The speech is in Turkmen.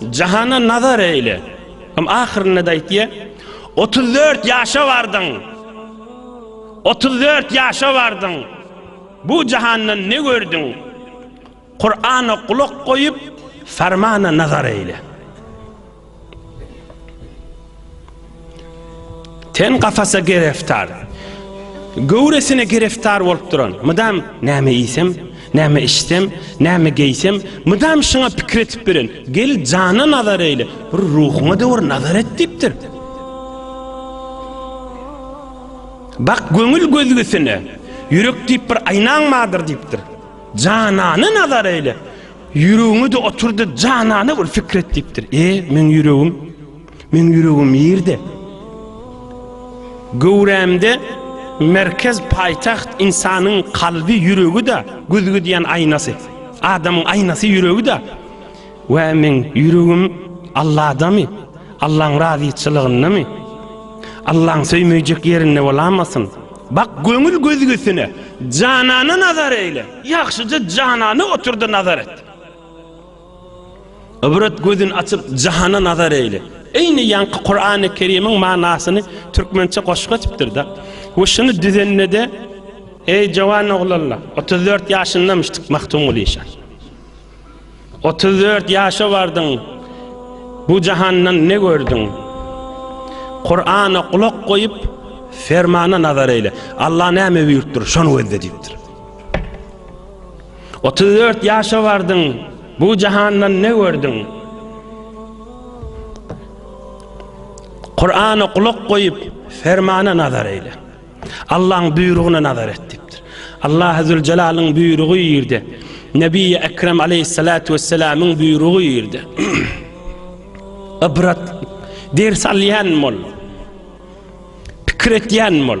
Jahana nazar eýle. Hem ahyrynda-da aýtýar, Otuz dört ýaşa bardyň. Otuz dört ýaşa bardyň. Bu jahandan ne gördüň? Kurana gulak goýup, Fermana nazar eýle. Ten kafasa gereftar. Göwresine gereftar bolup duran. Mydam näme iýsem, näme içsem, näme geýsem, mydam şuňa pikir etip beren. Gel jana nazar eýle, bir ruhuňa döwür nazar et diýipdir. Bak göňül gözgüsine, ýürek diýip bir aýnaň bardyr diýipdir. Janana nazar eýle. Ýüregiňe de oturdy, janana bir fikir et diýipdir. E, meň ýüregim Meň ýüregim ýerde. Göwrämde merkez paýtagt ynsanyň kalby ýüregi-de güzgi diýen aýnasy. Adamyň aýnasy ýüregi-de. Wä meň ýüregim Alladamy? Allaň razyçylygyndamy? Allaň söýmejek ýerinde bolamasyn? Bak göňül güzgüsine, janana nazar eýle. Ýagşyja janana otur-da nazar et. Ybrat gözün açyp jahana nazar eýle. Eýni ýaňky Kurany Kerimiň manasyny türkmençe goşgy etipdirda we şuny düzendede eý jowan oglanlar otuz dört ýaşyndamyşdyk Magtymguly şa otuz dört ýaşa bardyň bu jahandan ne gördüň Kurana gulak goýup fermana nazar eýle Allah näme buýurtdyr şony gözle diýipdir. Otuz dört ýaşa bardyň, bu jahandan ne gördüň? Kur'ana kulak goýup, fermana nazar eýle. Allah'ın buýrugyna nazar et dipdir. Allah Azze ve Celal'ın buýrugy ýerde. Nebi Ekrem Aleyhissalatu vesselam'yň buýrugy ýerde. Ibrat ders alýan bol. Pikir etýän bol.